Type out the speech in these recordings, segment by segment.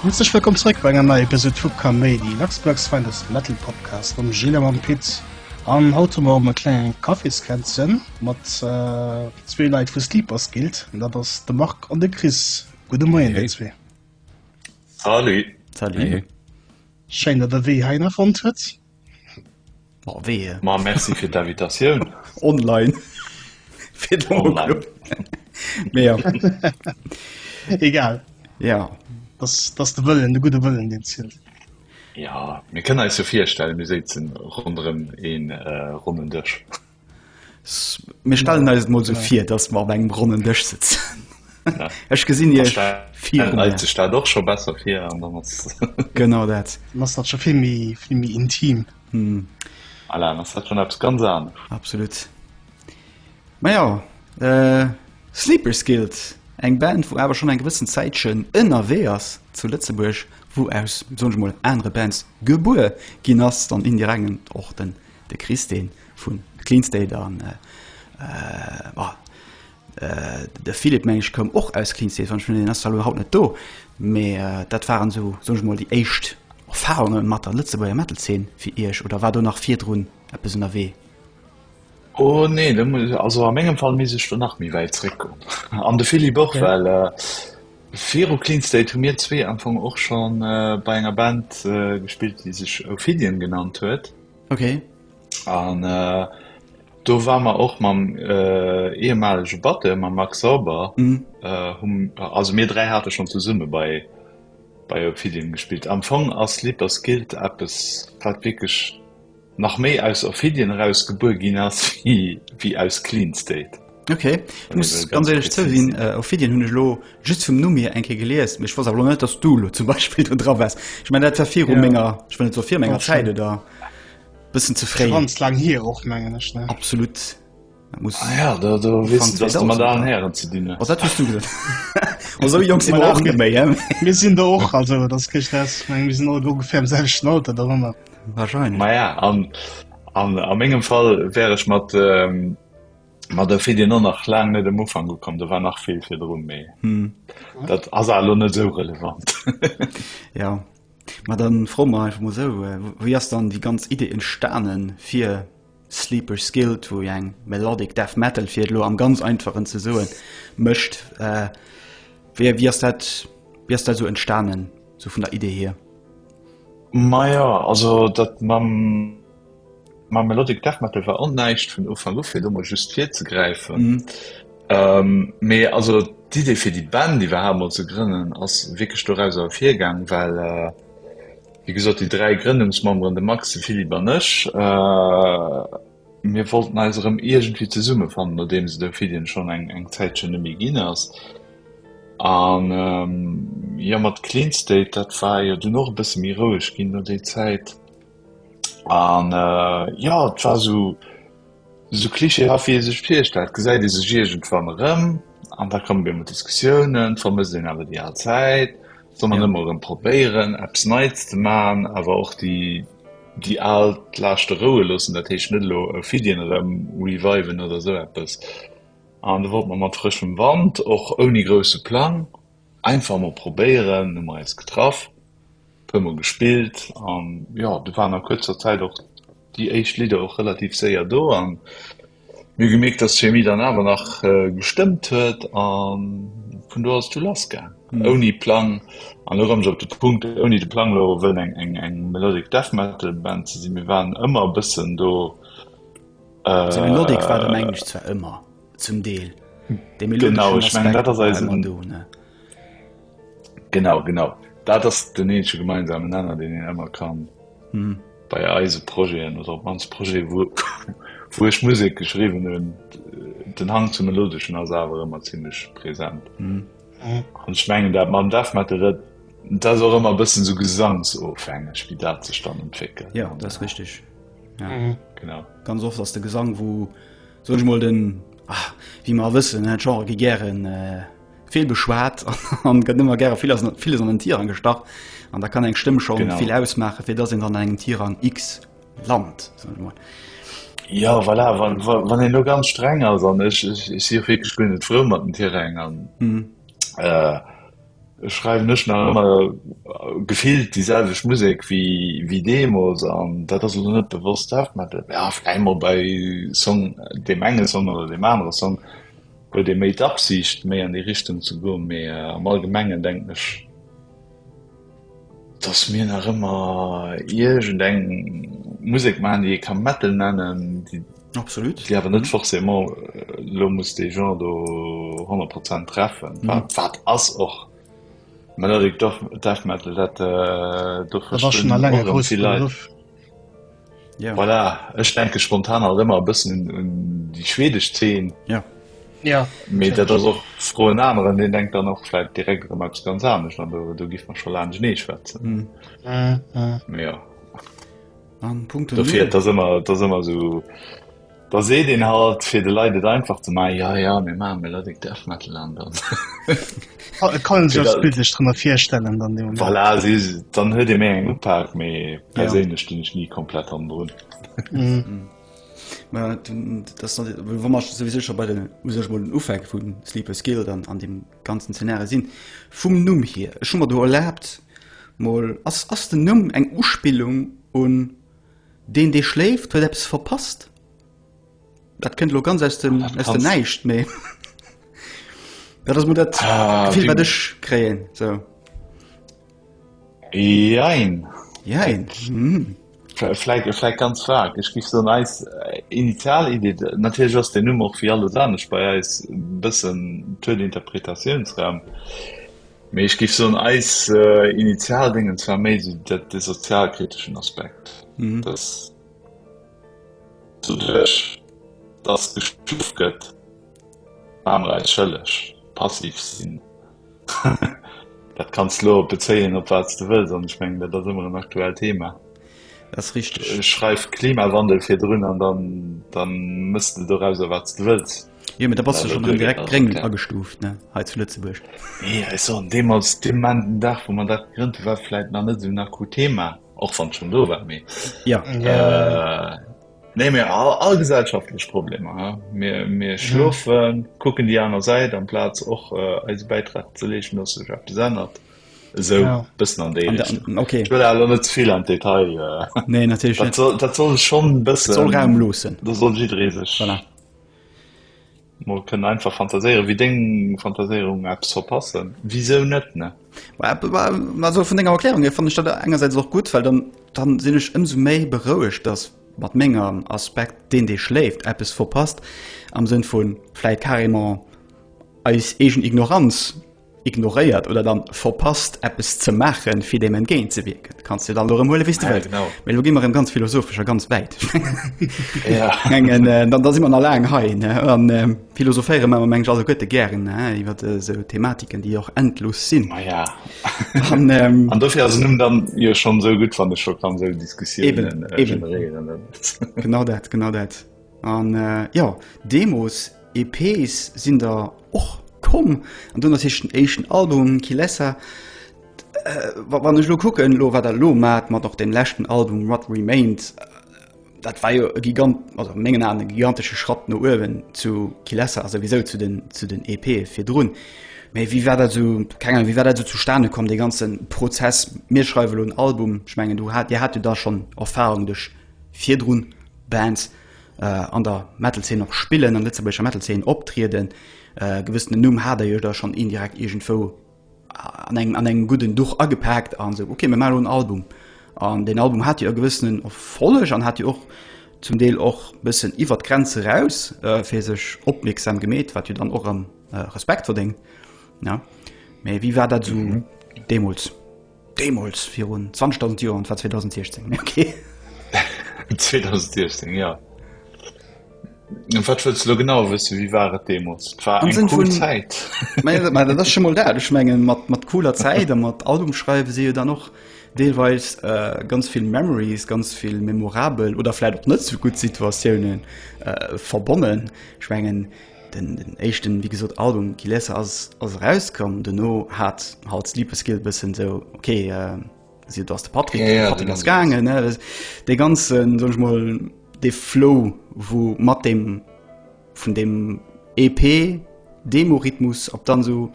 Herzlech wëllkomm zréck bei enger neier Episode vu Kaméidi, Luxembourg's finest Metal Podcast mam Gilles a mam Pit. An haut hu mer op e klengen Kaffeeskränzchen mat äh, zwee Leit vu Sleepers Guild. An dat ass de Marc an de Chris. Gudde Moien, Hey. déi zwee. Salut. Salut. Hey. Schéin, datt der wéi heiner fonnt huet. Oh wee. Ma merci fir d'Invitatioun. Online. Fir de Online. Mee ja. Egal. Ja. Das, das de Wëllen, de gute Wëllen, den zielt. Ja, mir kënne eis jo virstellen, mir sitzen rondrëm een äh, ronnen Dësch. Mir stellen eis mol so vir, dass mer op engem ronnen Dësch sitzen. Ja. Ech gesinn Dann Iech stellen vier wir eis die Stadt och scho besser fir an dann ass Genau dat. Dann ass dat scho vill méi, vill méi intim. Hm. Alain, ass dat schonn eppes ganz anescht? Absolut. Majo, äh, Sleepers Guild, eng Band, wou awer schonn eng gewëssen Zäitchen ënnerwee ass zu Lëtzebuerg, wou aus, soen ech mol, anere Bands gebuer ginn ass, dann indiregent och den, de Chris, dee vun Clean State an, äh, äh, De Philippe meng ech koum och aus Kinsheet, wann ech mir net irren ass zwar elo haut net do, mee dat waren esou soen ech mol déi éischt Erfarunge mat der Lëtzebuerger Metal Zeen fir Iech oder war do nach virdrun eppes ënnerwee? Oh nee, do muss ech, also a mengem Fall misst ech do nach méi wäit zréck goen an de Philippe och, well viru Cleanstate hu mir zwee am Fong och scho bei enger Band gespillt déi sech Ophidian genannt huet. Ok. An do ware mer och mam ehemalege Batteur, mam Max Sauber, also mir dräi hate schonn zesumme bei bei Ophidium gespillt. Am Fong ass Sleepers Guild eppes, wat wierklech nach méi aus Ophidian eraus gebuer ginn ass wéi aus Clean State. Ok, ech muss ganz éierlech zouginn, Ophidian hunn ech elo just vum Numm hier eng Kéier gelies, mee ech wosst awer elo net, datt s du elo zum Beispill do dra waars. Ech mengen, dat war viru menger, ech wëll net soe fir menger Zäit, oder? Bëssen ze fréi. Ganz laang hier och mengen ech, ne? Absolut. Dat muss Ah ja, da, da Anfang wissen dass du mat 2000, allen ja. Hären ze dinn Was hues. dat hues du gesot? Ma sou jonk si mer och net méi, hä? Mir sinn der och, also dat ass kee Stress. Ich meng, mir sinn all ongefähr am selwechten Alter derëmmer. Wahrscheinlech. Ma ja, an, an a mengem Fall wär ech mat, ähm, mat der Fedien och nach laang net um Ufank ukomm, do war nach vill virdrun, mee Hm. dat ass elo net esou relevant. Ja. Ma dann froen mer einfach mol esou, wéi ass dann déi ganz Idee entstanen fir Sleepers Guild, wou jo eng Melodic Death Metal, fir et elo am ganz einfachen ze soen, mécht? Wéi, wéi ass dat, wéi ass dat esou entstanen, esou vun der Idee hier? Ma jo, also dat mam. Mam Melodic Death Metal war och näischt vun Ufank u, fir do mol just virzegräifen. Mee also d'Idee fir déi Band iwwerhaapt mol ze grënnen ass wierklech doraus ervirgaang, well wéi gesot déi dräi Grënnungsmemberen, de Max, de Philippe an ech, mir wollten eis erëm iergendwéi zesummefannen, nodeems de Fidien schonn eng Zäitchen net méi ginn ass. An jo, mat Cleanstate, dat war jo dunn och e bësse méi roueg ginn no déi Zäit. An jo, et war esou esou klischeehaft, wéi ee sech virstellt. Gesäit ee sech iergendwann erëm an da kommen op eemol Diskussiounen, vermësst een awer déi al Zäit, soll een ëmmer erëm probéieren, eppes Neits ze maachen, awer och déi déi al Laaschte roue loossen, dat heescht net elo Fiddien erëm reviven oder esou eppes. An do wollt mer mat frëschem Wand, och ouni grousse Plang, Einfach emol probéieren, hu mer eis getraff, puer mol gespillt an jo do waren a kuerzer Zäit och déi éischt Lidder och relativ séier do an mir hu gemierkt dass d'Chemie dann awer nach gestëmmt huet an vun do ass et du lass gaang ouni Plang an elo kommen ech op de Punkt ouni de Plang elo wëllen eng eng eng Melodic Death Metal Band ze sinn, mir waren ëmmer e bëssen do. Melodic war den Englisch zwar ëmmer. zum Deel de genau ich mein, dat eisen do ne genau genau dat ass den ensche gemeinsamen Nenner den en ëmmer kann hm. bei eise Proen oder op mans Pro wo wo ech Musik geschrieben hun den Hang zum melodeschen as awer ëmmer ziemlich präsent hm. und schmengen dat man darf mat der dat auch immer bëssen so gesangsofhängeg wie dat ze stand entwickeln ja das richtig ja. mhm. genau ganz oft ass de Gesang wo Soen ech mol den, ah, wéi mer a wëssen, den Genre gi gären vill beschwat an gëtt ëmmer gäre vill as villes an den Tirang gestach. An da kann eng Stëmm schon genau. vill ausmaache, fir dass een an engem Tirang X lant. Soen ech mol. Ja voilà, wann, wann een lo ganz streng ass an ech, ech, ech si och wierklech guer net frou mat den Tiräng an. Mhm. Äh, Ech schreiwen ech nach ëmmer gefillt déi selwecht Musek wéi wéi deemols an dat ass elo net bewosst Death Metal. Jo vläicht mol bei Song deem enge Song oder deem anere Song huet ee méi d'Absiicht méi an déi Richtung ze goen, mee am allgemengen denken ech, dass mir nach ëmmer iergend eng Musek maachen, déi ee ka Metal nennen, déi awer net forcément elo muss dee Genre do honnert Prozent treffen, wat ass och Melodic Death Metal, dat do verstoen och vill Leit. Ja. Voilà, ech denke spontan halt ëmmer e bëssen un, un déi schwedesch Zeen. Ja. Ja. Mee dat ass och fro en aneren, deen denkt dann och läit direkt ëm eppes ganz anescht an do, do giff mer scho laang genee schwätzen. Mm. Mm, mm. Ja. An Punkto. Dofir, dat ass ëmmer, dat ass ëmmer sou. Da seet een halt, fir de Leit et einfach ze maachen, Jo, jo, mir maache mol lasek Death Metal an dann. Et kann een sech eppes bildlech drënner virstellen dann dee Moment. Voilà, si, dann huet ee méi eng Upaak, mee perséinlech stinn ech ni komplett hannen drun. Mä dat ass dann, wa mer souwisou scho bei den, u sech mol den Ufänk vu Sleepers Guild an an deem ganzen Zeenario sinn, vum Numm hier, ech hu mer do erlaabt mol, ass ass den Numm eng Uspillung un Deen dee schléift huet eppes verpasst. Dat kënnt elo ganz aus dem aus dem Näischt, mee dat ass mol dat Gefill wat ech kréien sou. Jein. Jein. Vläit vläit ganz vag. Ech géif soen eis initial Idee, natierlech ass den Numm och wéi alles anescht bei eis e bëssen Tour d'interprétatiounsraum. Mee ech géif soen, eis Initialdéngens war méi esou dat, de sozialkriteschen Aspekt, dass doduerch, dass geschufft gëtt, maach mer eis schëlleg, passiv sinn. Dat kanns de elo bezéien, op wat s de wëlls, an ech mengen, dat ass ëmmer en aktuellt Thema. Dat ass richteg. Schreif Klimawandel virdrun an da mëss de dorauser, wat s de wëlls. Jo, da bass du schon direkt gréng agestuuft ne hei zu Lëtzebuerg. Nee ech soen deemools dee manten Dag wou mer dat gegrënnt hu war vläit nach net esou en akut Thema och wann schon do war mee ja yeah. äh, Nee mir all, all gesellschaftlech Problemer mir, mir schlofen ja. kucken die aner Säit am Platz och äh, eise Beitrag ze leechen ass sech op besennert so ja. bëssen an dé okay. net vill an Detail äh. nee, dat, soll, dat soll schon bëssen raum losen da soll jiddré sech voilà. Mol kënnen einfach fantaséieren, wéi deng Fantaséierung Apps soll passen. Wisou net, ne? Also vun denger Erklärung hier fanne ech dat engersäits och gutt, well dann, dann sinn ech ëmsou méi berouegt, dass mat mengem Aspekt, deen dee schléift, eppes verpasst am Sënn vu vläit carrément eis eegen Ignoranz ignoréiert oder dann verpasst eppes ze maachen fir dem entgéint ze wierken kannst du dann lo huele wis du welt genau lo gi immer ganz philosophischer ganz weit engen äh, dann da si man allein hei an ähm, philosophéiere man meng also gotte gern iwwer äh, so thematiken die auch endlos sinn ah, ja an ähm, dofir as nun dann ihr schon so gut van de scho kann se diskusieren äh, genau dat genau dat An jo, Demos, EPs sinn der och komm. An dunn ass hich den éischten Album, Kilesa. Wann ech elo kucken elo, wat der elo maacht mat och dem leschten Album, What Remains, dat war jo e gigant, also a mengen Aen e gigantesche Schratt no uewen zu Kilesa a souwisou zu den, zu den EPe virdrun. Mee wéi war dat esou, keng Ahnung, wéi war dat esou zustane komm, dee ganze Prozess, mir schreiwe elo en Album? Ech mengen, du hat, dir hat jo da schonn Erfarung duerch. virdrun Bands an der Metalzeen och spillen, an lëtzebuergescher Metalzeen optrieden, e gewëssenen Numm hat der jo da schonn indirekt iergendwou an engem an engem gudden Duch agepaakt an esou ok mir maachen elo en Album. An deen Album hat jo e gewëssenen Erfolleg an hat jo och zum Deel och e bëssen iwwert d'Grenz eraus fir sech opmierksam gemeet, wat jo dann och erëm Respekt verdéngt, ne? Mee wéi war dat esou deemools? Deemools, virun 20.000 Joer, an et war 2016, mee okay. 2016, jo. An wat wëlls de lo genau wëssen, wéi war et deemools? Et war eng cool Zäit. Mä dat ass scho mol dat. Ech mengen, mat cooler Zäit a mat Album schreiwe si jo dann och deelweis ganz vill Memories, ganz vill memorabel oder vläicht och net sou gutt Situatiounen verbonnen. Ech mengen, Den éischten, wéi gesot, Album Kilesa ass erauskomm. Dono hat halt Sleepers Guilt bëssen esou, ok, si do ass de Patrick, yeah, yeah, Patrick ass gaangen. Dee ganzen, soll ech mol, dee Flow, wou mat dem vun dem EP, Demorhythmus, op dann sou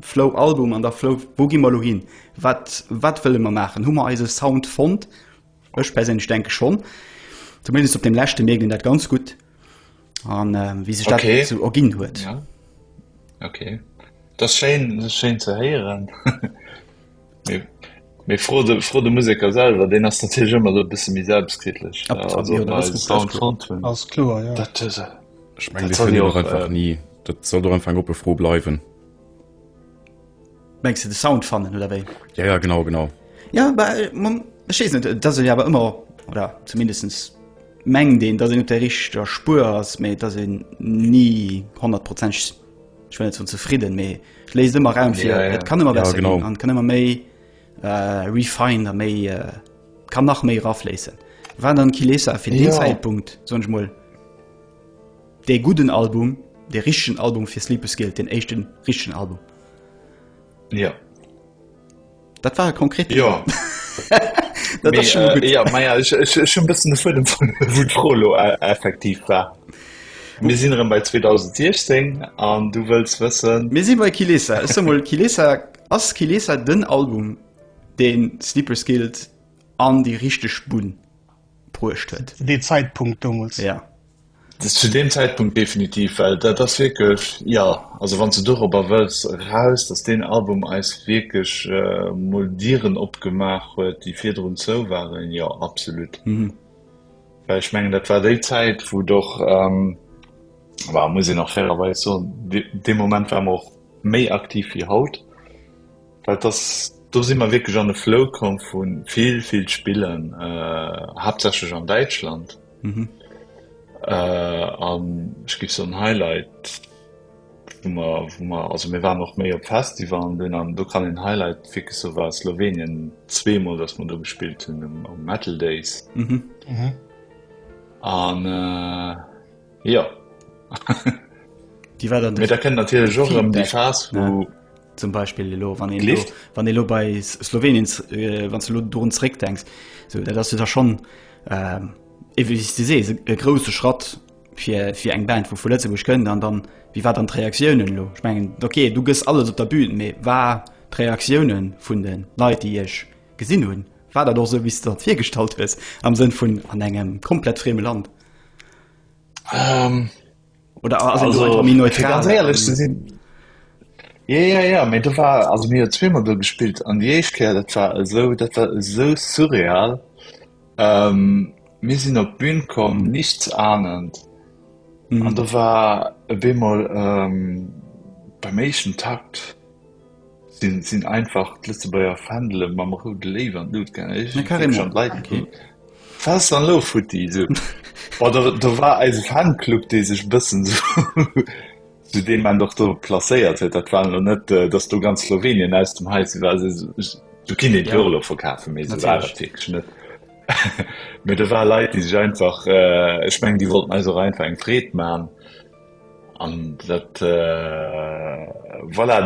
Flow Album an der Flow, wou gi mer lo hin? Wat, wat wëlle mer maachen? Hu mer eise Sound fonnt? Ech perséinlech denke schonn. Zumindest op dem leschte mierkt een dat ganz gutt. an äh, wie sich okay. so ergin huet ja. okay das schön, das schön zu heieren mir froh de, froh de musiker selber den hast natürlich immer so bisschen wie selbstkritisch ja, also, ja, das das klar, ja. das ist, ich mein, das das auch, einfach äh, nie dat soll do einfach op befro bleiwen Mengs de de Sound fannen oder wéi? Ja, ja, genau, genau. Ja, aber äh, man, ich weiß nicht, dass ich aber immer, oder zumindest mengen den, dass ich nicht der richtige Spur ass, méi dass ich nie 100 Prozent ich will nicht so zufrieden, méi ich lese immer Raum fir ja, ja. Et kann immer besser ja, genau. an kann immer méi äh, refine a méi äh, kann nach méi rafleessen. Wann dann Kilesa fir ja. den Zeitpunkt sonch moll. Dee gudden Album, dee richtegen Album fir Sleepers Guilt, deen éischten richtegen Album. Ja. Dat war e konkret Thema. Ja. Dat ass schon mal gut. Äh, ja, ma ja, ech, ech, ech hun bëssen de Fuedem vun wou d'Fro lo äh, effektiv war. Mir sinn erëm bei 2016 an du wëlls wëssen, Mir si bei Kilesa. Ech sag mal, Kilesa, ass Kilesa den Album, deen Sleepers Guilt an déi richteg Bunn bruecht huet? Zu dee Zeitpunkt domols. Ja. Zu deem Zäitpunkt definitiv, well dat ass wierklech, jo, also wann s de dorobber wëlls eraus, datt deen Album eis wierklech mol Dieren opgemaach huet, déi virdrun zou waren, jo, absolut. Well ech mengen, dat war déi Zäit, wou et och, well muss een och fairerweis soen, dee Moment ware mer och méi aktiv wéi haut, well dass, do si mer wierklech an e Flow komm vu vill, vill Spillen, haaptsächlech an Däitschland. Mhm. Äh, an ich gif so ein Highlight wo man, wo man, also mir waren noch méi op Festival an den an du kann den Highlight fi so war Slowenien zwemal dass man du gespielt hun um, um Metal Days mhm. Mhm. an äh, ja die war dann da kennt natürlich auch um die Chance wo ja. zum Beispiel elo wann een elo, wann elo bei Slowenien äh, wann du do zréck denkst so dat ass du da schon äh, du sees e grosse Schratt fir fir eng Band wo vu Lëtzebusch kënnen an dann wie war dann d'Reaktiounen lo ich mengen okay du gëss alles op der Bühnen méi war d'Reaktiounen vun den Leiit déi ech gesinn hunn war dat och so wie dat virgestalt hues am Sënn vun an engem komplett freme Land. Um. oder ass en do Also, einfach méi fir ganz neutral? ehrlech ze sinn. Ja, ja, ja, mee do war, also mir zweemal do gespillt an déi éischt Kéier, dat war esou, dat war esou surreal. Ähm, mir sinn op d'Bün komm, nichts ahnend. An do war e bemol ähm, beim éischten Takt, Sin einfach d'Lëtzebuerger Fändele mam roude Léiw an d'Lut gaangen. Ech hun carrément schon d'Leit gefrot, Was dann lo futti? So. Boah, da, da war eise Fanclub, dee sech bëssen so, so dee man doch do placéiert huet. Dat war lo net, äh, dass do ganz Slowenien aus dem Heise war. So, du kinn den ja. Urlaub verkafen, mee so war dat wirklich net. Mee da war Leit, déi sech einfach, äh, ech meng, déi wollten eis och einfach eng Freed man. An dat, voilà,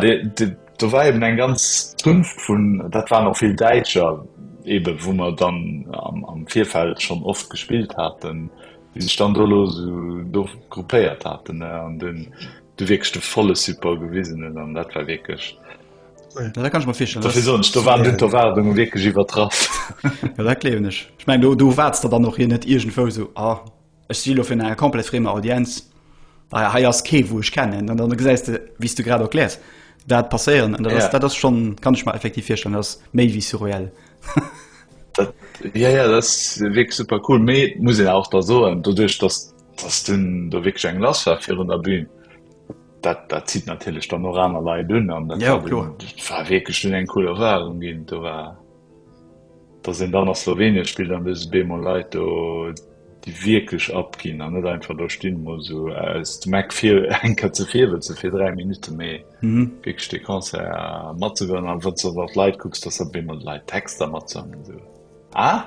do war eben eng ganz Zunft vun, dat waren och vill Däitscher eben, wou mer dann am Virfeld schonn oft gespillt haten, déi sech dann do do gruppéiert haten an dunn do wierklech de volle Support gewisen hunn. An dat war wierklech, dat kann ech mer virstellen, dofir soen ech, do waren dunn d'Erwaardunge wierklech iwwertraff. Jo, dat gleewen ech. Ech mengen, do waarts de dann och, ier net iergendwou esou, ah, Ech si lo virun enger komplett friemer Audienz, Bei hei ass kee wou ech kennen. An dann gesäis de, wéi s du grad erkläers, dat passéieren. An dat ass, dat ass schonn, kann ech mer effektiv virstellen, dat ass méi wéi surreell. Dat, jo, jo, dat ass wierklech super cool. Mee et muss een awer och soen, doduerch datt, datt dunn do wierklech eng lass war virun der Bühn, dat, dat zitt natierlech dann och aner Leit un. An dat war wierklech dunn eng cool Erfarung ginn. Do war. dass een dann a Slowenien spillt an dës beemol Leit do déi wierklech abginn an net einfach do stinn muss so aus dem Eck fir eng Kéier ze virwëtzen fir 3 Minutte méi mhm. wierklech de Concert matzegoen an wann du an d'Leit kucks dass dat beemol Leit Texter matsammle so ah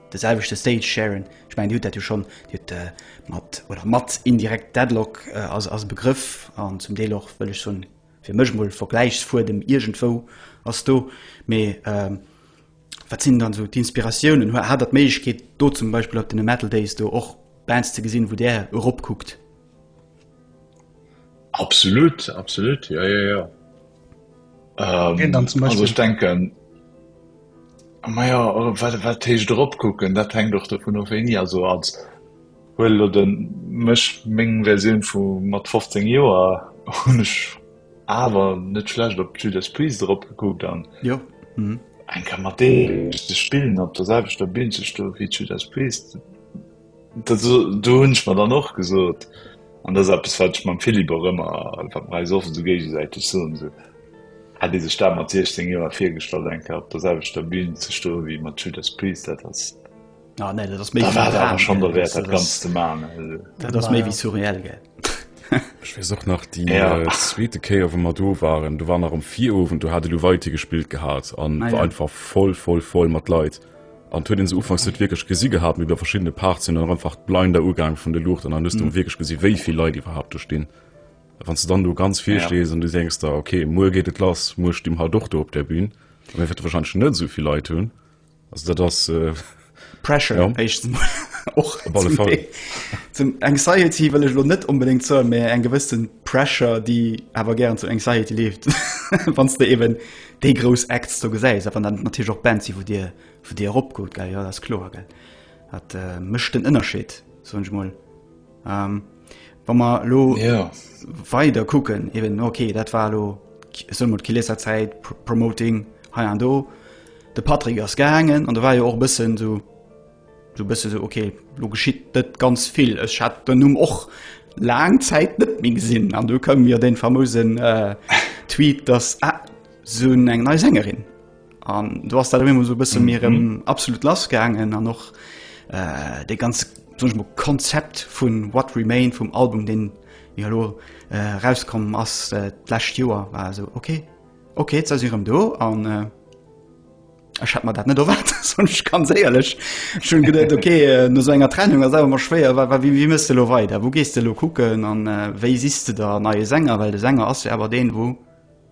de selwechte Stage sharen, ech mengen Dir hutt dat jo schonn, Dir hutt mat oder mat indirekt Deadlock als als Begrëff an zum Deel och, wëll ech soen, fir mech emol Vergläichsfuedem iergendwou ass do, mee wat sinn dann esou d'Inspiratiounen? Hat Der d'Méiglechkeet do zum Beispill op deene Metal Days do och Bands ze gesinn, wou Där eropkuckt? Absolut absolut ja, ja, ja. Ähm, dann zum Beispiel. Also ich denken Maja wat wat teech drop kucken, dat heng doch der vun of eng ja so als Huel oder den mech meng Verioun vu mat 15 Joer hunnech awer net schlecht op Judas Priis drop gekuckt an. Jo. Mhm. Eng kann mat dee ze spillen op der selwechter Binn ze stoe wéi Judas Priis. Do hunn ech mer dann och gesot, an dat ass eppes, wat ech mam Philippe och ëmmer, wat mer eis och esou géigesäiteg soen, esou, hätt ee sech dat mat 16 Joer virgestallt, eng Kéier op der selwechter Bün ze stoen, wéi mat Judas Priest, dat ass, da war et awer schonn derwäert, dat Ganzt ze maachen. Also. Dat ass méi wéi surreal, gell? Ech weess och nach déi zweete Kéier, wou mer do waren, do war nach am Virowend, do hat elo Waithe gespillt gehat an war einfach voll, voll, voll mat Leit. An et huet een se ufanks net wierklech gesi gehat, mee bei verschiddene Parts sinn dann och einfach d'Blinder ugaang vun de Luuchten an hues dunn wierklech gesi wéi vill Leit iwwerhaapt do stinn. A wann s de dann do ganz vir stees an du denks der, ok, muer geet et lass, muer sti mer halt och do op där Bün, da wäerte se wahrscheinlech net esou vill Leit hunn. Also dat ass. Pressure, éischtens emol. Och zum Anxiety wëll ech elo net onbedéngt soen, mee eng gewëssen Pressure, déi awer gären zu Anxiety leeft, wann s de eeben déi grouss Acts do gesäis, a wann dat natierlech och Bands si wou Dir, wou Dir erop goot, gell, jo dat ass kloer, gell. Dat mécht den Ënnerscheed, soen ech mol. Wa mer elo weider kucken, eben ok, dat war elo, soe mol d'Kilesser Zäit, Promoting hei an do, de Patrick ass gaangen an do war jo och e bëssen esou, Du bist du so okay lo geschitt net ganz vill ech hat den Numm och lang Zäit net méi gesinn an du kom mir den famosen äh, Tweet dass ah, so eng nei Sängerin an du hast dat immer so bist mir mm -hmm. absolut lasgangen an noch äh, de ganz Konzept vun what remain vum Album den ja lo äh, rauskommen ass äh, Joer war so okay okay ze do an äh, Ech hat mer dat net erwaart sonch ganz éierlech schon gedet okay äh, no so enger Trennung as awer mar schwéier war wie wie mëste lo weider wo gees de lo kucken an äh, wéi siste der neie Sänger well de Sänger ass jo awer deen wou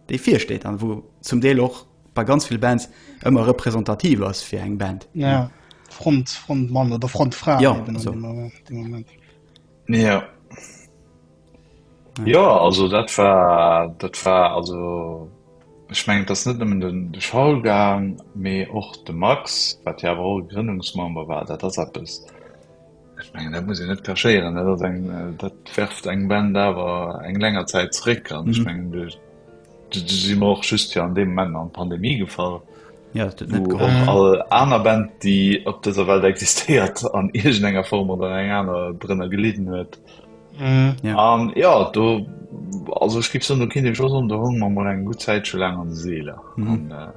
dee virsteet an wou zum Deel och bei ganz vill Bands ëmmer representativ ass fir eng Band ja. Ja. Front Front Mann oder Front Fra ja, so. Moment. Ja. Ja also dat war dat war also ech meng dat net nëmmen den de Schallgang mee och de Max wat ja awer och Grënnungsmember war dat ass eppes ech meng dat muss een net kachéieren dat ass eng dat werft eng Band awer eng länger Zäit zréck an ech mhm. meng du du si mer och just fir an deem Moment an Pandemie gefall ja, net mhm. all aner Band déi op dëser Welt existéiert an irgend enger Form oder eng aner drënner geleden huet An ja do also ech gi so kind eng Schoss an der Hong man eng gut Zäit scho lang an de Seele. Mhm. Äh,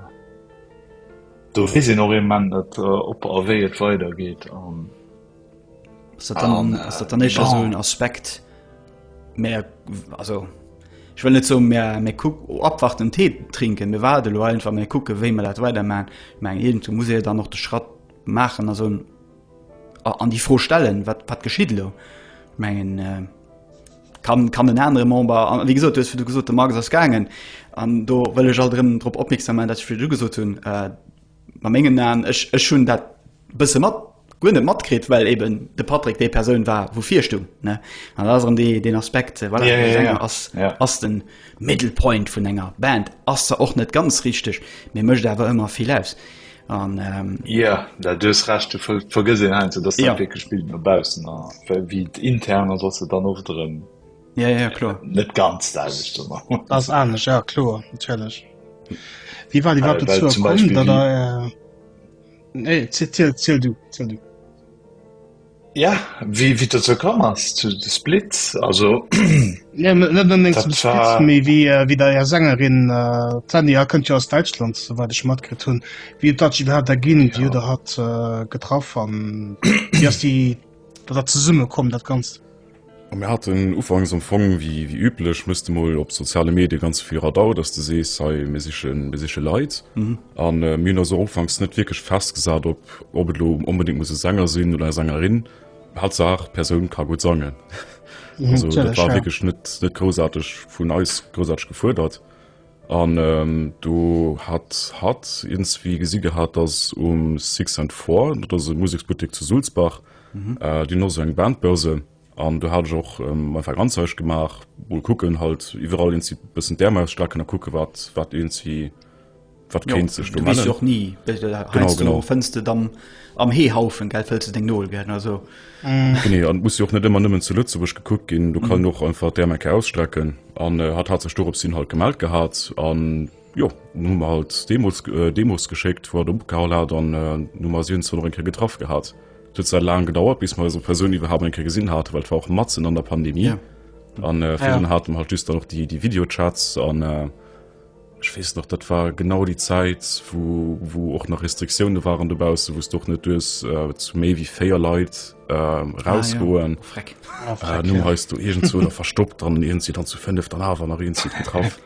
do fi sinn och e Mann, dat op äh, eréi et weider geet an. dann ass dat dann echer so en Aspekt Mä also ich will net zo mé mé ku abwacht den Tee trinken mir war de lo einfach mé kucke wéi me dat weider ma. Mg Helen zu Musee dann noch de Schratt machen a so an déi Fro stellen, wat, wat geschitt elo? Ech mengen, kann, kann en anere Member, an wéi gesot, du hues virdu gesot, de Marc ass gaangen, an do wëll ech alt erëm drop opmierksam maachen, datt ech virdu gesot hunn, a mengen Aen, ech, ech hunn dat e bësse mat, guer net matkritt, well eeben de Patrick déi Persoun war, wou virstung, ne? An dat ass erëm dee, deen Aspekt, voilà, de Sänger ass, ass de Middle Point vun enger Band, ass zwar och net ganz richteg, mee mécht awer ëmmer vill aus. An, ähm. Jo, da du hues Recht, du vergëss een heiansdo, dass dat wierklech Bild no baussen ass, well wéi et intern ass, ass et dann oft erëm. Ja, ja, ja, kloer. Net ganz däitlech ze man. Dat ass anescht, ja kloer, natierlech. Wéi war déi Wa dazu komm, dat der. Nee, ziel, ziel du, ziel du. Ja wéi wéi et dozou komm ass zu de Split also Nee, net net unbedingt zum dat Split, war méi wéi äh, wéi der Är Sängerin äh, d'Sandy H. kënnt jo aus Däitschland, souwäit ech matkritt hunn, wéi et dat jiddwer hat der ginn, déi huet ja der hat äh, getraff an wéi ass déi dat dat zesummekomm dat Ganzt? Mir haten ufanks am Fong wéi wéi üblech misste mol op soziale Medie ganz vill Radau, dass de sees hei mir sichen mir siche Leit mhm. an äh, mir also ufanks net wirklich festgesat op ob et lo unbedingt muss Sänger sinn oder Sängerin hat Saach Persoun ka gut sangen. Mhm, also, das war wirklich net net großartig vun eis großartig gefuerdert. An do hat hatt iergendswéi gesi gehat, datt um Six and Four, dat ass e Museksbuttek zu Sulzbach, déi hunn och esou eng Bandbörse. An do hat ech och meng Erfahrung Anzeige gemaach, mol kucken halt iwwerall iergendswéi e bëssen d'Ärm ausstrecken a kucke wat wat iergendswéi wat kéint sech do mellen. Jo, du weess jo och ni, wéi de, heiansdo fënns de dann am Heehaufen, wëlls de deng Nol gär, also. Nee, an muss jo och net ëmmer nëmmen zu Lëtzebuerg gekuckt ginn. Du kann och einfach d'Ärm eng Kéier ausstrecken. An äh, hat hat sech dorops hin halt gemellt gehat. An jo, dann hu mer halt Demos, äh, Demos geschéckt, wo er opgehall hat an äh, nu mer si uns dann och eng Kéier getraff gehat. Et huet zwar laang gedauert, bis mer eso Persoun iwwerhaapt eng Kéier gesinn haten, well et war och matzen an der Pandemie. Ja. An äh, Ah, ja. virun haten mer halt just dann och déi, déi Videochats an äh, Ech weess nach, dat war genau déi Zäit, wou och nach Restriktioune waren dobausse, wou s d'och net duerst zu méi wéi véier Leit erausgoen. Nun heiers du iergendzwou der verstoppt an iergend si dann zu fënneft an awer nach iergend si getraff.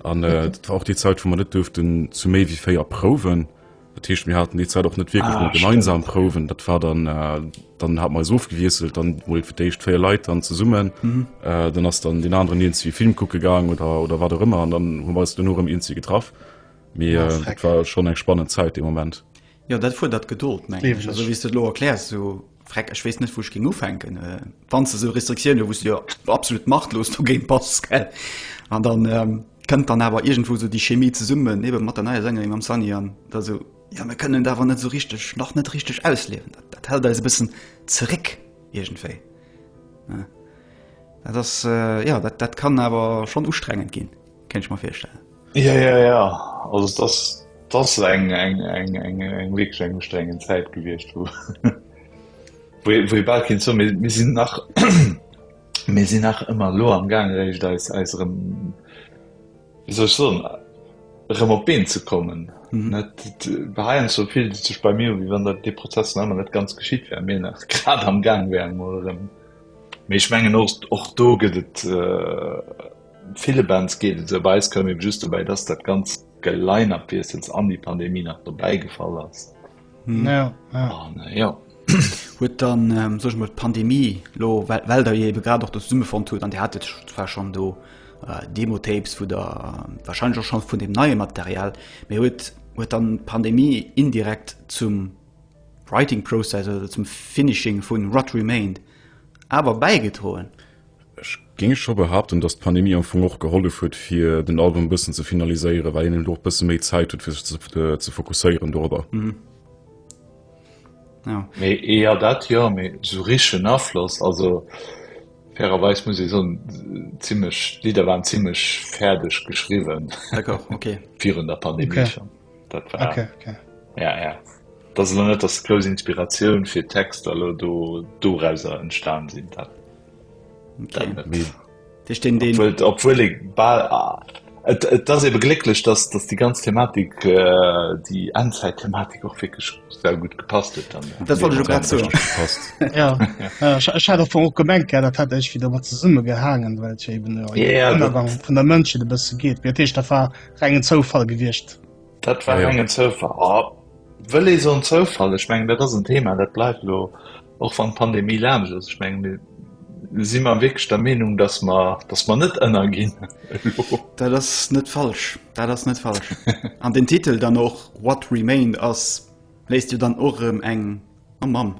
An dat war och déi Zäit, wou mer net duerften zu méi wéi véier prouwen, Dat heescht mir hatten déi Zäit och net wierklech ah, gemeinsam stimmt. Prouwen, dat war dann äh, dann hat meis ofgewiesselt, dann wouel fir d'éischt véier Leit an zesummen mhm. äh, dann ass dann den anderen Ien wie Film kucke gang oder oder wat ëmmer an dann hun weis du nur em Ien ze getraff. Mee ja, äh, war schon eng spannend Zäit de Moment. Ja dat fuer dat geduld meng. Wie du lo erklärs so Freck, ech weess net wou ech géing ufänken. Wann s de esou Restriktioun hues, wou s de jo absolut machtlos dogéint bass, gell? An dann kënnt dann awer iergendwou esou déi Chemie zesummen, ebe mat der neier Sängerin, mam Sunny, an da esou, jo mir kënnen et awer net esou richteg, nach net richteg ausliewen, dat hält eis e bëssen zeréck iergendwéi. Dat ass, jo, dat kann awer schonn ustrengend ginn. Kennt ech mer virstellen. Ja ja ja also das das eng eng eng eng eng weg eng strengen Zeit gewicht wo wo bald kind so mir sind nach mir sind nach immer lo am gang recht als als rem, wie soll so rem op been zu kommen mhm. net beheien so viel sich bei mir wie wann der die Prozess nach net ganz geschieht wär mir nach grad am gang wären oder rem. Mech mengen och do gëtt et äh, Ville Bands geet et esou, bei eis koum eben just dobäi, dass dat ganz Geline-Up-Wiessels an déi Pandemie nach dobäi gefall ass. An jo. Huet dann, soe ech mol, d'Pandemie elo, well der jo ebe grad och do zesummefonnt hutt, an Dir hatet zwar schonn do Demo-Tapes vu der, warscheinlech och scho vun deem neie Material, mee huet huet dann d'Pandemie indirekt zum Writing-Process oder zum Finishing vu What Remained awer bäigedroen. Ech géing scho behaapten, datt d'Pandemie am Fong och gehollef huet, fir den Album e bëssen ze finaliséieren, well een elo och e bësse méi Zäit huet, fir sech ze fokusséieren dorobber. Mee jo, dat jo, mee esou richtegen Afloss, also fairerweis muss ee soen, zimmlech, d'Lidder waren zimmlech fäerdeg geschriwwen virun der Pandemie schonn. dat war okay, okay. ja ja das ist net das große Inspiration für Text also du du Reiser entstanden sind hat okay. den, den, den obwohl, obwohl ich ball ah, Et, et das eben glücklich dass dass die ganze Thematik äh, die anzeit Thematik auch wirklich sehr gut gepasst wird dann das wollte ich gerade so ja, ja ich hatte davon auch gemerkt ja, das hatte ich wieder mal zusammen gehangen weil ich eben ja, ja, ja, von der Mönche ein bisschen geht wird ich da war Rengen Zoufall gewiescht. Dat war engen Zoufall. Oh, wëll ee son Zoufall? Ech meng, dat ass en Thema, dat bleift lo och wann d'Pandemie laansch ass. Ech meng, mir si mer wierklech der Meenung, dass mer, dass mer net ënnerginn. Dat ass net falsch, dat ass net falsch. An den Titel dann och What Remained ass Léisst jo dann och erëm eng oh Mamm,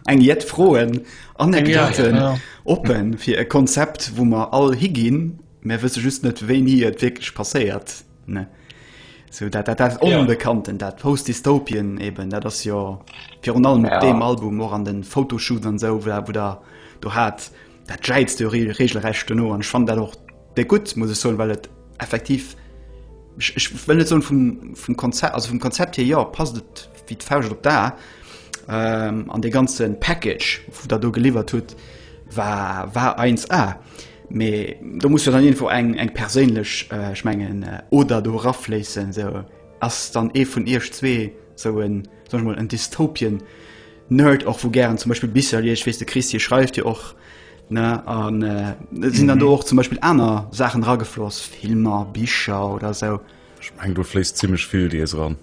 eng jett Froen, Anekdoten oppen fir e Konzept, wou mer all higinn, mä wësse just net, wéini et wierklech passéiert, ne? Sou dat, dat, dat Onbekannten, dat Post-Dystopien eben, dat ass jo virun allem op deem Album och an de Photoshoot an esou, wou Der do hat. Dat jäizt jo regelrecht dono an ech fand dat och déi gutt, muss ech soen, well et effektiv ech, ech well net soen vum, vum Konzept also vum Konzept hier ja passt et wéi d'Fauscht op d'A ähm, an de ganzen Package vu dat do geliwwert huet war war 1A. Mee do muss jo dann irgendwo eng eng perséinlech äh, ech mengen äh, oder do rafléissen, sou ass dann ee vun Iech zwee sou en sag ich mal en Dystopien Nerd och wou gären zum Beispiel Bisser liest, wees de Christ hier schreift jo och ne an äh, sinn dann mhm. do och zum Beispiel aner Sachen ragefloss, Filmer, Bicher oder so. Ich mein, du flees ziemlich viel dir ran.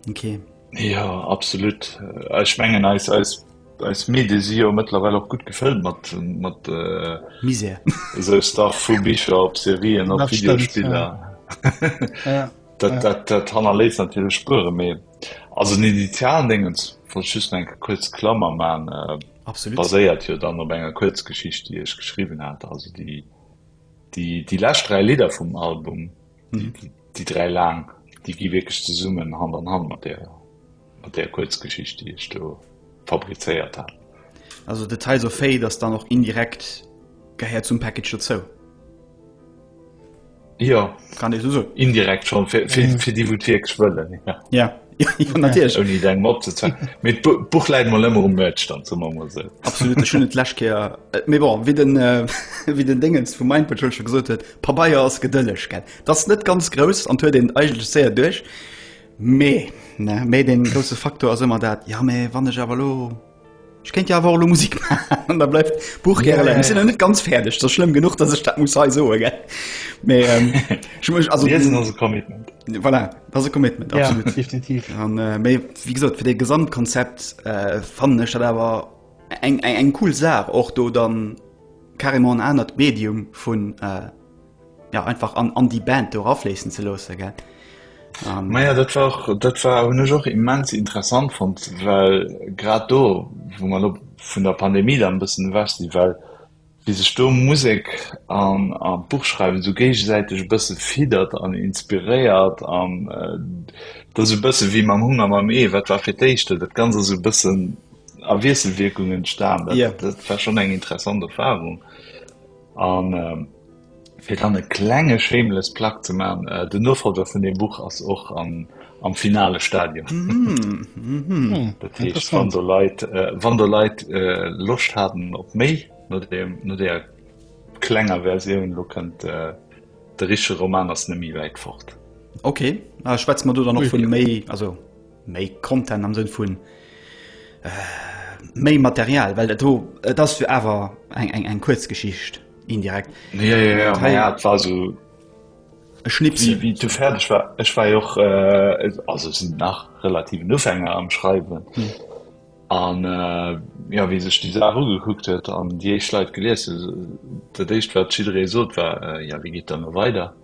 Okay. Ja absolut äh, Ech mengen als, als, als Medi si jo mëttlerweile auch gut gefëllt mat mat äh, Mise se Star vu Bicher op Serien op Videospieler. Ja. ja. Dat, dat, dat hanner leis an Spure méi. Also den initialen Dingens wollt ech just nach eng kuerz Klammer maachen. Absolut. Baséiert jo dann op enger Kuerzgeschicht, déi ech geschriwwen hat. Also déi déi déi lescht dräi Lidder vum Album, déi mhm. déi dräi laang, déi gi wierklech zesummen Hand an Hand mat der mat der Kuerzgeschicht, déi ech do fabrizéiert hat. Also de Teil so féi, dats dann och indirekt gehéiert zum Package dozou. Jo kann ee sou soen. Indirekt schonn, fir, fir, fir déi wou d'Wierk wëllen. Ja. Ja. Jo natierlech. Ouni deng Mapp ze zwang. Mee d'Buch läit mol ëmmer um Merch dann ze mam Mosel. Absolut ech hunn et d'lescht Kéier. Äh, mee bon, wéi den äh, wéi den Déngens vum Mindpatrol scho gesot huet, Pabeier ass gedëlleg gell. Dat ass net ganz grouss an huet een eigentlech séier duerch. Mee ne méi deen grousse Faktor ass ëmmer dat, ja mee wann ech awer elo Ech kéint jo awer och elo Musik maachen an da bleift d'Buch gäre leien. Ech sinn nach net ganz fäerdeg, dat ass schlëmm genuch, datt ech dat muss hei soen, gell. Mee ähm, ech muss also. Liesen ass e Commitment. Voilà, dat ass e Commitment, Ja, absolut. definitiv. An äh, méi wéi gesot, fir dee Gesamtkonzept äh, fannen ech dat awer eng, eng, eng cool Saach, och do dann carrément en anert Medium vun äh, Ja, einfach an, an die Band do rafléissen ze loosse gell. Um. Maja dat war dat war hun ech och immens interessant fand, well grad do wo man op vun der Pandemie da bëssen wäch si well wie sech do Musek an a Buchschreiwen sou géigesäiteg e bësse fiddert an inspiréiert an äh, dat sou bësse wéi mam Hunger mam Ee, wat war fir d'éischt do? Dat ganz ass sou bëssen a Wiesselwierkung entstan, dat yeah. dat war schon eng interessant Erfahrung. An fir dann e klenge shameless plug ze man, den Nofolger vun deem Buch ass och am finale Stadium. Dat heescht wann do Leit, wann do Leit Loscht haten op méi no deem, no deeër klenger Versioun, lo kënnt de richtege Roman ass net méi wäit fort. Ok, schwätze mer do dann och vun méi, also. Méi Content am Sënn vun méi Material, well dat do, et ass jo awer eng eng eng kuerz Geschicht indirekt. Ja, ja, ja, ma ja, et war esou e Schnipsel. Wéi, wéi et du fäerdeg war, ech war jo och, also ech sinn nach relativen Ufänger am Schreiwen. An jo, wéi sech déi Saach ugekuckt huet an déi éischt Leit gelies hunn, dat éischt wat jidderee sot war, jo, wéi geet dann elo weider?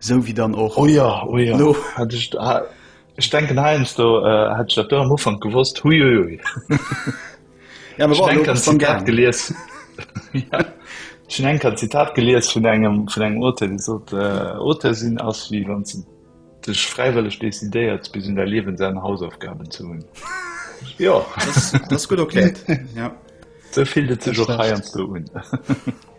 Sou wéi dann och. Oh jo, oh jo. No. Hat ech, ech denken heiansdo hätt ech dat do am Ufank gewosst, hui ui ui. Ja, ech denken an Zitat gelies. Ja. Ech hun enker Zitat gelies vun engem vun engem Auteur, dee sot, Auteur sinn ass wéi wann s de dech fräiwëlleg decidéiert bis un däi Liewensenn Hausaufgaben ze hunn. Jo. Dat ass gutt erkläert, ja. Sou fillt et sech och heiansdo un.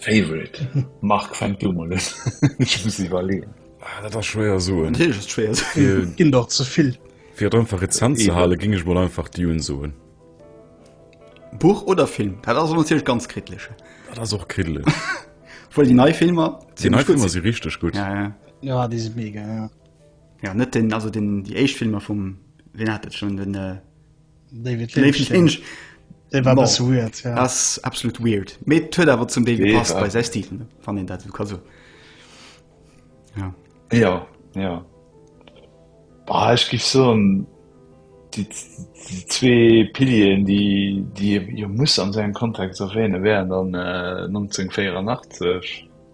Favorite Mark fängt du mal un. Ech muss iwwerleeën. Ah, dat ass schwéier soen. Natierlech ass et schwéier soen. Ginn der ze vill. Fir et einfach rezent ze halen, géing ech mol einfach Dune soen. Buch oder Film? Dat ass natierlech ganz kriddelech. Dat ass och kriddelech. Obwuel déi nei Filmer zimmlech gutt sinn. Déi nei Filmer si richteg gutt. Ja, ja. Ja, déi si mega, ja. Ja, net den, also den, déi éischt Filmer vum, wien hat dat schonn, den. David Lynch, Lynch. De war bas weird ja. ass absolut weird. Mee huet awer zum David pass bei sei Stephen van den dat ka so. Ja ja. ja. Bah, ich gif so ein, die, die zwee Pilien, die die ihr muss an seinen Kontext erwähne wären dann äh, 1984.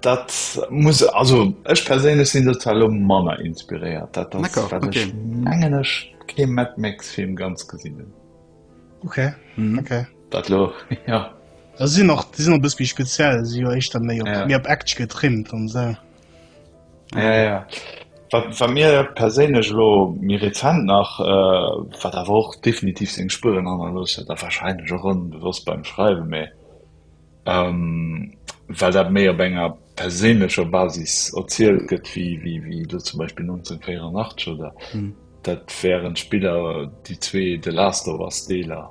Dat muss also ech perséinlech sinn dozou elo manner inspiréiert. Dat ass D'accord, wat ech okay. mengen ech kee Mad Max Film ganz gesinn hunn. Okay, Mhm. okay. Dat lo ja. Da sinn och déi sinn e bëss méi speziell, si jo éischter méi op Ja. méi op Action getrimmt an se. Ja, ja. Wat wat mir perséinlech lo méi rezent nach äh, wat awer och definitiv seng Spueren hannerlooss huet a wahrscheinlech och onbewosst beim Schreiwen, mee well dat méi op enger perséinlecher Basis erzielt gëtt wéi elo zum Beispill 1984 oder dat wären d'Spiller, déi zwee The Last of Us Deeler.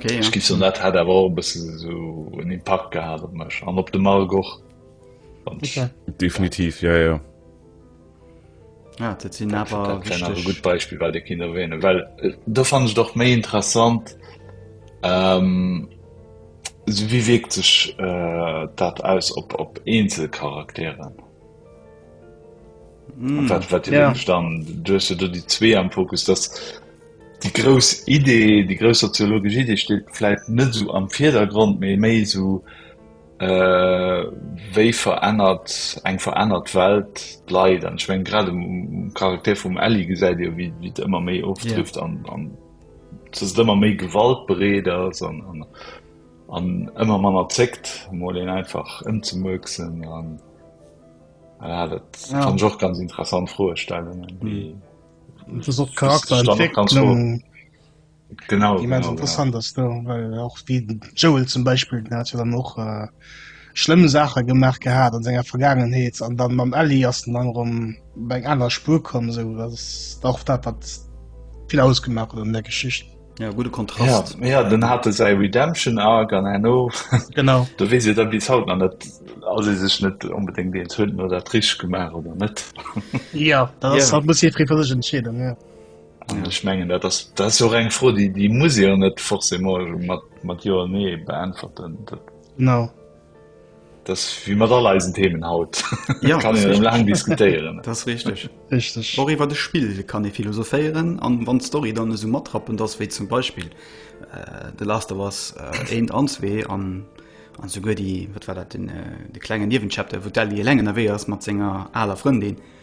Ech gi soen, dat hat awer och e bësse esou en Impakt gehat op mech an op de Marc och. Definitiv, jo, jo. Ja, dat sinn awer wichteg. gut Beispiel bei de Kinder wéine, well äh, do fan ech doch méi interessant ähm, so wie wiekt sech äh, dat aus op op Einzelcharakteren. Mm. Wat, wat ja. dann dues du die zwee am Fokus dass die groß Idee, die groß soziologische Idee steht vielleicht net so am Vierdergrund méi méi so, Wéi verännert eng verännert Welt d'Leit? An ech meng grad um Charakter vum Ellie gesäit Dir, wéi et ëmmer méi ofdrifft an dass et ëmmer méi gewaltbereet ass an ëmmer manner zéckt, mol een einfach ëmzemuerksen. Dat kann ech och ganz interessant Froestellungen, déi. Genau, genau, genau. interessant ass do well och wie Joel zum Beispiel den hat jo dann och äh, schlëmm Sache gemacht gehabt an senger Vergangenheet an dann mam Ellie ass den dann rum bei eng aner Spur kommen so dat ass auch dat wat viel ausgemacht hat an der Geschicht Ja, gute Kontrast. Ja, ja den hatte sei Redemption Arc an Hanno genau du wis da bis haut an net also sech net unbedingt den hunden oder Trich gemacht oder net ja, das Ja. hat muss fri versich entschädung ja. Ech mengen dat ass jo eng Fro, déi muss ee jo net forcé mat Jo a Nee beäntwerten. Genau. Dat ass wéi mat all eisen Themen haut, do kann ee jo laang diskutéieren. Dat ass richteg. Richteg. Och iwwer e Spill kann ee philosophéieren. An wann d'Story dann esou matrappend ass, wéi zum Beispill The Last of Us 1 an 2 an esouguer déi, wat war dat, de klenge Niewenchapter, wou d'Ellie eleng ënnerwee ass mat senger aler Frëndin,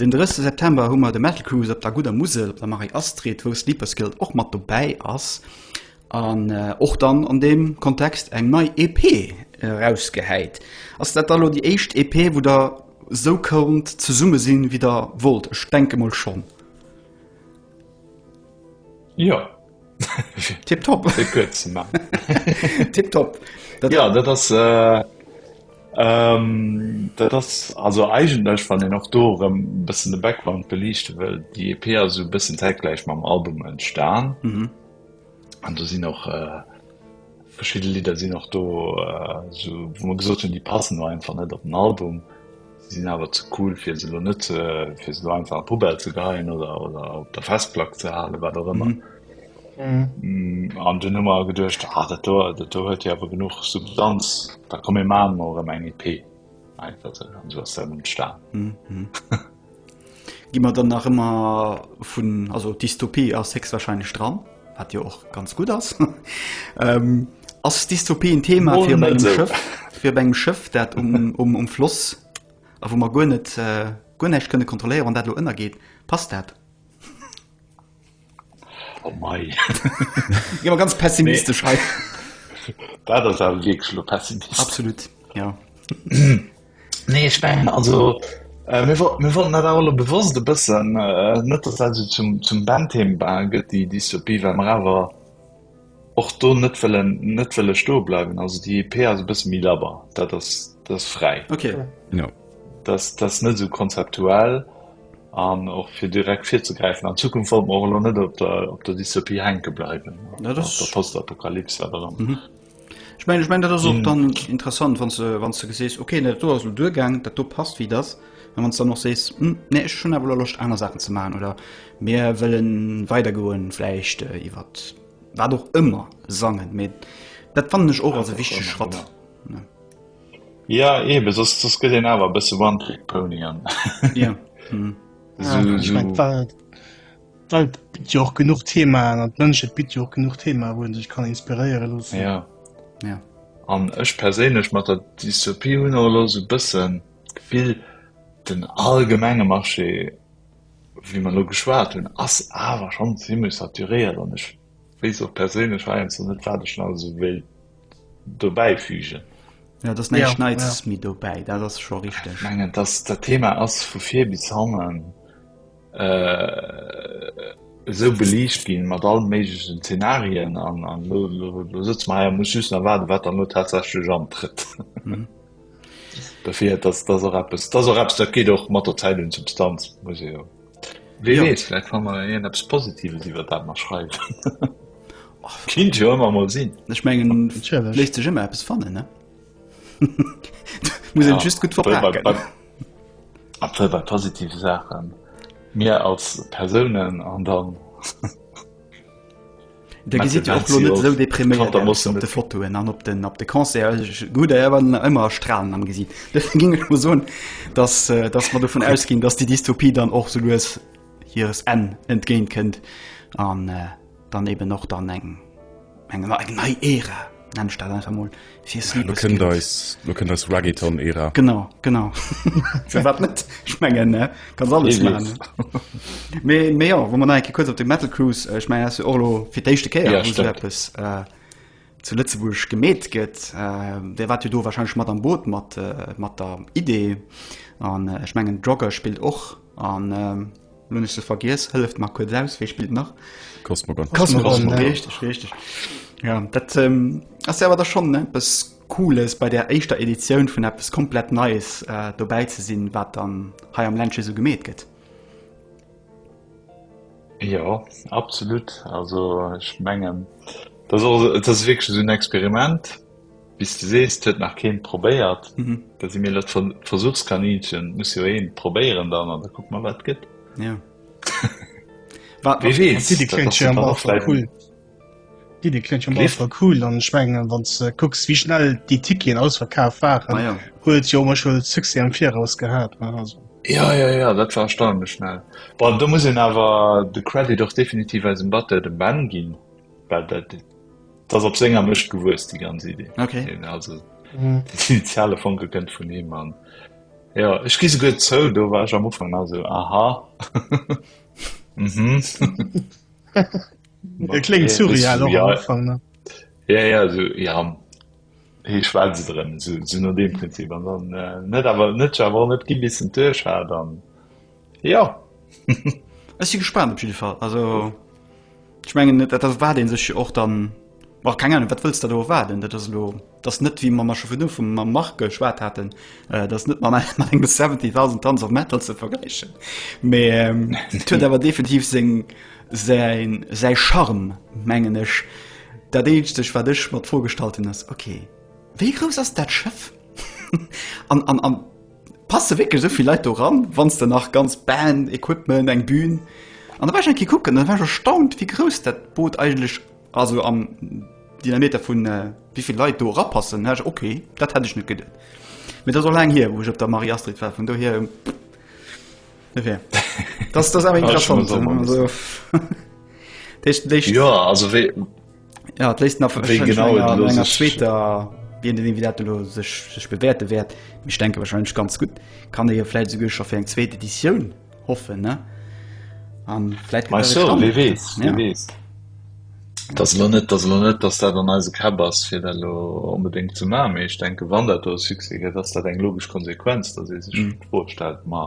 Den 30 September hu mer de Metal Cruise op der gudder Musel op der Marie Astrid, wou Sleepers Guilt och mat dobäi ass an och dann an deem Kontext eng nei EP erausgehäit. Ass dat da lo déi éischt EP, wou der esou konnt zesumme sinn, wéi der wollt? Ech denke mol schonn. Jo. Tip top Tip top Ja dat ass äh, ähm, dat ass also eigenlech wann en och do rëm bëssen de Background beliichte wëll. Déi EP ass esou bëssen zäitgläich mam Album entstan. Mhm. An do sinn och äh, Verschidde Lidder sinn och do, wou mer gesot hunn, déi passen elo einfach net op den Album. Si sinn awer ze cool, fir se elo net, fir se elo einfach an d'Poubelle ze geheien oder op der Festplack ze halen, wat och ëmmer. An dunn hu mer geduecht, Ah, dat do, dat do huet jo awer genuch Substanz, da komm mir maache mer och erëm eng EP. Einfach esou. An esou ass dat entstan. Gi mer dann nach ëmmer vun, also Dystopie ass héchstwahrscheinlech dran, wat jo och ganz gutt ass. Ass Dystopie en Thema fir op engem Schëff, fir op engem Schëff, dat um Floss a wou mer guer net, guer näischt kënne kontrolléieren, wann dat elo ënnergeet? Passt dat? Oh mei. Gi mer ganz pessimistesch hei. Dat ass awer wierklech lo pessimistesch. Absolut, ja. Nee, ech mengen, also, äh, mir wollten, mir wollten dat awer lo bewosst e bëssen, äh, net, dass dat esou zum, zum Bandthema gëtt, déi Dystopie, well mer awer, och do net wëllen net wëlle stoe bleiwen also déi EP ass e bësse méi labber dat ass das fräi okay no das das net so konzeptuell an och fir direkt fir ze gräifen an Zukunft wollt mor lo net op der op der Dystopie henke bleiwen na das der postapokalypse aber dann mhm. Ich mein, ich mein, dat so dann interessant wann ze wann ze gesees okay net do ass du duergang dat do passt wie das wann dann noch sees hm, ne schon a locht aner Sachen ze ma oder Mir wëllen weider goen, vläicht iwwer wat och ëmmer sangen, mee dat fannen ech och als e wichtege Schratt. Ja eben, soss soss gëtt een awer e bësse One Trick Pony an. Ja. Ech mengt d'Welt d'Welt bitt jo och genuch Themaen an d'Mënschheet bitt jo och genuch Themaen, wou een sech kann inspiréiere loossen. Ja. Ja. An ech perséinlech mat der Dystopie hunn och elo sou e bëssen d'Gefill, den allgemenge Marché wéi mer elo geschwat hunn, ass awer schonn zimlech saturéiert an ech weess och perséinlech heiansdo net, wat ech nach esou wéilt dobäi fügen. Ja, et ass näischt Neits ja. méi dobäi, dat ass scho richteg. Ech mengen, dass dat Thema ass vu vir bis hannen äh, esou beliicht ginn, mat allen méiglechen Zenarien an, an lo, lo, lo sëtze mer hei a muss just nach waarden, wat dann elo tatsächlech antrëtt. Mhm. Dofir dass das och eppes das och eppes dat geet och mat der Zäit un Substanz muss ee jo wee ja. wees vläicht kann man een eppes Positives iwwer dat mat schreiwen Kind jo ëmmer mol sinn Ech mengen léisst sech ëmmer eppes fannen ne muss ja, just gut ver bei positive Sachen mir als Persounen an dann. Dir gesitt jo och lo net esou depriméiert aus op de Fotoen an op den op de Concert. Gutt, Der war ëmmer a Stralen am Gesiit. Dofir géing ech mol soen, datt datt mer dovun ausginn, datt déi Dystopie dann och sou lues hires Enn entgéint kënnt an dann eben och dann eng eng nei Ära. Nenn ich dat einfach mol fir Lo Sleepers kënnt Kind. eis, lo kënnt eis Reggaeton-Ära. Genau, genau. Fir wat net? Ich mengen, ne? Kannst alles Wie machen. weess. Mee, mee ja, wo man nach enke kurz op de Metal Cruise, äh, ich meine, das ist ja och lo fir d'éischte Kéier, Ja, wo so stimmt. eppes äh, zu Lëtzebuerg gemeet gëtt. Äh, der wart jo do wahrscheinlich mat am Boot mat, äh, mat der Idee. An äh, ich mengen, Jogger spielt och. An ähm, Lo hun ech se vergiess, hëlleft mer kuerz aus, wéi spillt nach? Cosmogon. Cosmogon, richteg, richteg. Ja, dat ass awer da schonn eppes Cooles, bei där éischter Editioun vun eppes komplett Neies dobäi ze sinn, wat dann hei am Ländche sou gemeet gëtt. Jo, absolut. Also ech mengen, dat ass och, dat ass wierklech esou en Experiment. Bis de sees et huet nach keen probéiert da si mir lech Versuchskaninchen muss jo een probéieren dann an da kuck mer wat gëtt. Ja cool an schmengen wann ze kucks wie schnell déi Tickien ausverkaaf waren huet jo mech huet Suse am viraus gehat. Ja ja ja dat war erstaunlech schnell. Bon do muss een awer de Credit och definitiv eisem Batteur dem Ben ginn. Well dat, dat ass op senger Mëscht gewuess, déi ganz Idee. Okay. Hien, also, mhm. den initiale Fonke kënnt vun him an. Ja, ech gi se gutt zou, do war ech am Ufang nach so, aha. mhm. Dat klingt surreal am Anfang, ne? Ja, ja, so, ja, hey, schwätze drin, so, so nach dem Prinzip. Und dann, äh, nicht, aber nicht, aber nicht, gib bisschen Tisch, dann. Jo ech si gespannt op jidde Fall. Also ech mengen net dat war dee sech och dann war keng Ahnung, wat wëlls dat do waarden, dat ass lo dat net wéi ma mar scho vun du vum mam Marc geschwat haten, äh, dat net man mat engem 70.000 Tanz of Metal ze vergläichen. Mee ähm, et huet awer definitiv seng säin säi Charme mengen ech. Dat eenzeg wat ech mat vorgestalt hunn ass okay, wéi grouss ass dat Schëff? an an an Passe wierklech esou vill Leit do eran, wann s de nach ganz Band, Equipment, eng Bühn? An da war ech eng Kéier kucken an da war ech erstaunt, wéi grouss dat Boot eigentlech ass, esou am Diameter vu wéi vill Leit do erapassen. Da hat ech gesot, okay, dat hätt ech net geduet. Mee dat ass och laang hier, wou ech op der Marie-Astrid war. Vun dohier, enfin, dat ass awer interessant. Dat heescht, déi. Ja, et léisst nach Wéi genau et lo sech- zweter wien den Invitat lo sech sech bewäerte wäert mech denke wahrscheinlech ganz gut kann e jo vläit souguer scho fir eng zweet Editioun hoffen ne an vläit Mei so, wie weess, wie Ja. weess. Et ass elo net, et ass elo net, datt dat an eise Käpp ass, fir dat elo onbedéngt ze maachen, mee ech denke, wann dat do e Succès gëtt, ass dat eng logesch Konsequenz, datt ee sech d'Fro stellt, ma,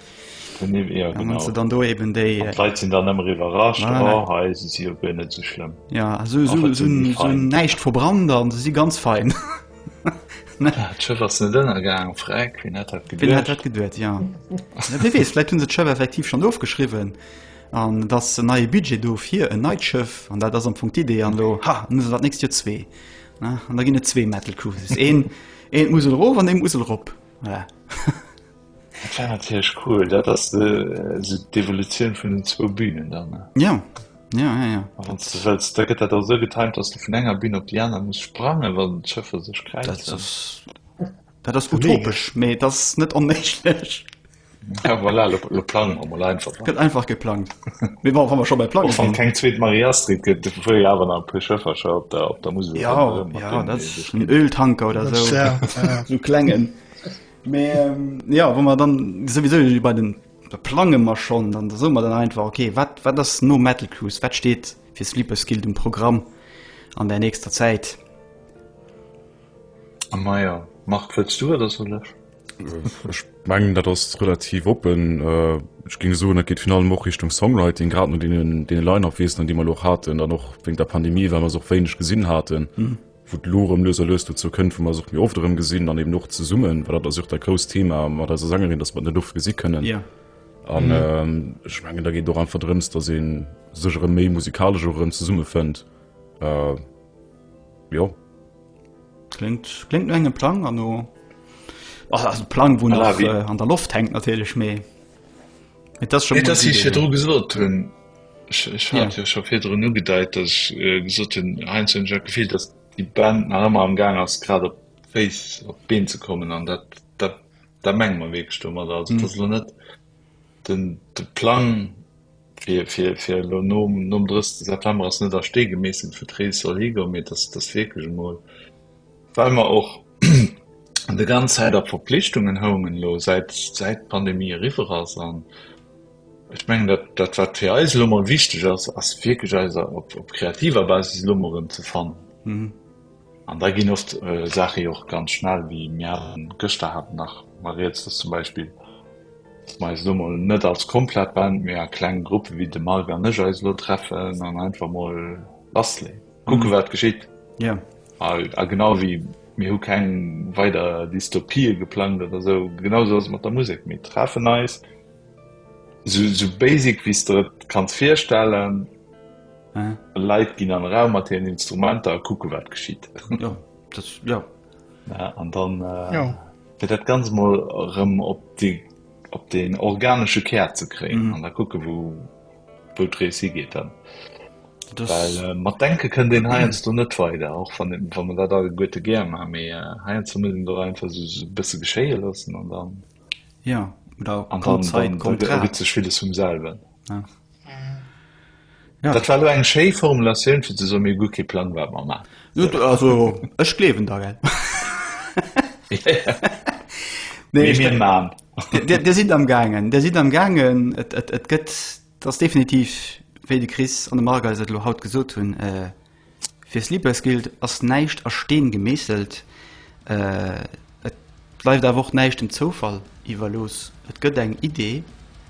Ja genau. An dann do eben déi äh, Leit sinn dann ëmmer iwwerrascht voilà. oh, hei si si op net ze schlëmm. Ja so, so, so, so näicht verbrannt an se si ganz fein. Dënnergang Freck wien hat dat geduert ja. wees läit hunn se d'Schëff effektiv schon ofgeschriwen an dat en neie Budget doof hier en neit Schëff an dat ass am Punkt Idee an lo ha muss dat nächst Dir zwee an da ginn et zwee Metal Cruises een een Musel rof an dem Musel rop. Voilà. Dat war natierlech cool. Dat ass de, se d'Evolutioun vun den zwou Bünen dann. Ja. Ja, ja, ja. A wann ze wëlls, da gëtt dat also getimt, datt du vun enger Bün op déi aner muss sprangen, wann d'Schëffer sech kräizen. Dat ass, dat ass utopesch, mee et ass net onméiglech. Ja, voilà, lo, lo plangen wir mal einfach. Ne? Gëtt einfach geplangt. Mir waren wir schon bei Plangen. Von kein zweet Maria Street gëtt, dofir ja awer nach e puer Schëffercher op der, op der Musel. Ja, ja, das ist ein Öltanker oder das so. Ja, ja. so klengen. Mehr, ähm, ja, wo man dann sowieso bei den da plange man schon, dann so man dann einfach okay, was wat das no Metal Cruise, was steht für Sleeper Skill im Programm an der nächster Zeit? A Meier Marc wëlls du oder soll ech? Ech mengen dat ass relativ oppen. Ech géing soen, dat geet virun allem och Richtung Songwriting, grad no deene Line-Up Feesten, déi mer elo och haten, dann och wéinst der Pandemie, well mer se och wéineg gesinn haten, wou et elo erëm lues a lues dozou kënnt, wou mer se och méi oft erëm gesinn an eben och zesummen, well dat ass jo och dat grousst Thema mat eiser Sängerin, datt mer et net oft gesi kënnen. An ech mengen, da geet et och einfach drëms, datt ee sech erëm méi musikalesch och erëm zesummefënnt. Jo. Klingt, klingt no engem Plang an no. Oh, also Plang, wo nach äh, an der Loft hängt natürlich méi. Das schon nee, das ich hier drum gesucht hun ich, ich ja. ja schon viel drin gedeiht dass ich äh, gesucht hun heinz und Jack gefehlt dass die Band nach immer am gang aus gerade face op been zu kommen an dat dat da meng man weg stummer also mhm. das net den de plan Fir elo nom 30 September ass net a Stee gemeesselt, wou d'Rees soll higoen, mee dass dass wierklech emol, well mer och déi ganz Zäit a Verpflichtungen houngen elo, säit säit d'Pandemie eriwwer ass. An ech mengen, dat dat wat fir eis elo emol wichteg ass, ass wierklech eis op op kreativer Basis elo emol erëm ze fannen. An da ginn oft Saache jo och ganz schnell, wéi mir haten gëschter haten nach mol rieds, dass zum Beispill, dass mer eis elo mol net als komplett Band, mee a klenge Gruppe wéi de Marc an ech eis elo treffen an einfach mol bastelen, kucke wat geschitt. A genau wéi mir hu keng weider Dystopië geplangt oder esou, genau esou ass et mat der Musek. Mir treffen eis, esou basic wéi s de der et kanns virstellen, Leit ginn an e Raum mat hiren Instrumenter a kucke wat geschitt. Jo, dat, jo. Ja, an dann, jo. fir dat ganz mol erëm op déi, op den organesche Kär ze kréien an da kucke wou, wou d'Rees higeet dann. Well mat Denke kënnt een heiansdo net weider, och wann, wa mer dat alleguerte gär maachen, mee heiansdo muss een et och einfach esou e bësse geschéie loossen an dann. Jo, oder. An dann ergëtt sech villes vum selwen. Ja. Dat war lo eng schéi Formulatioun fir ze soen, mir hu guer kee Plang wat mer maachen. Jo, d- also ech gleewen der, gell. Nee, Mee ech mir denk, man. Dir Dir sidd am gaangen, Dir sidd am gaangen. Et et et gëtt, et ass definitiv, wéi de Chris an de Marc eis et elo haut gesot hunn, Fir Sleepers Guilt ass näischt a Steen gemeesselt, et bleift awer och näischt dem Zoufall iwwerlooss. Et gëtt eng Idee,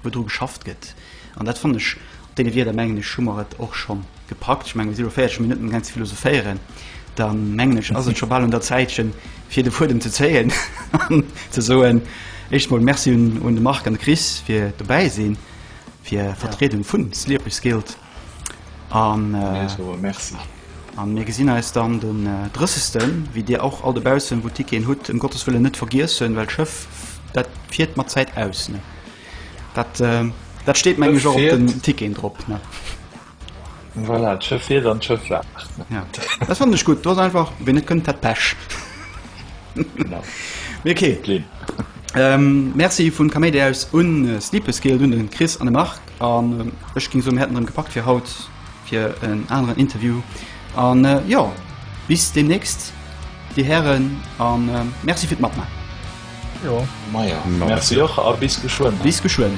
wou dru geschafft gëtt, an dat fannen ech, op deene Wierder mengen ech hu mer et och scho gepackt. Ech mengen, wa si elo 40 Minutten um Gang ze philosophéieren, da mengen ech, ass et scho bal un der Zäitchen, fir de Fuedem ze zéien an ze soen, éischt emol Merci un de Marc an de Chris fir dobäi sinn, fir Vertriedung vu Sleepers Guilt. An mir gesinn eis dann den Drëssesten, wéi Dir och all de Baussen, wou Ticketen hutt, ëm Gottes Wëllen net vergiessen, well d'Schëff, dat fiert mat Zäit aus. Dat, dat steet, meng ech, och op den Ticketen drop. Voilà, d'Schëff fiert an d'Schëff waacht. Ja, dat fannen ech gutt. Do ass einfach, wien net kënnt, hat Pech. Genau. Mee okay. Merci vun Kaméidi aus un Sleepeskill, un de Chris an de Marc. An ech ging soen, mir hätten erëm gepackt fir haut fir en aneren Interview. An äh, ja, bis demnächst, Dir Hären, an äh, Merci fir d'Matmachen. Jo. Maja, no. Merci och a bis geschwënn. Bis geschwënn.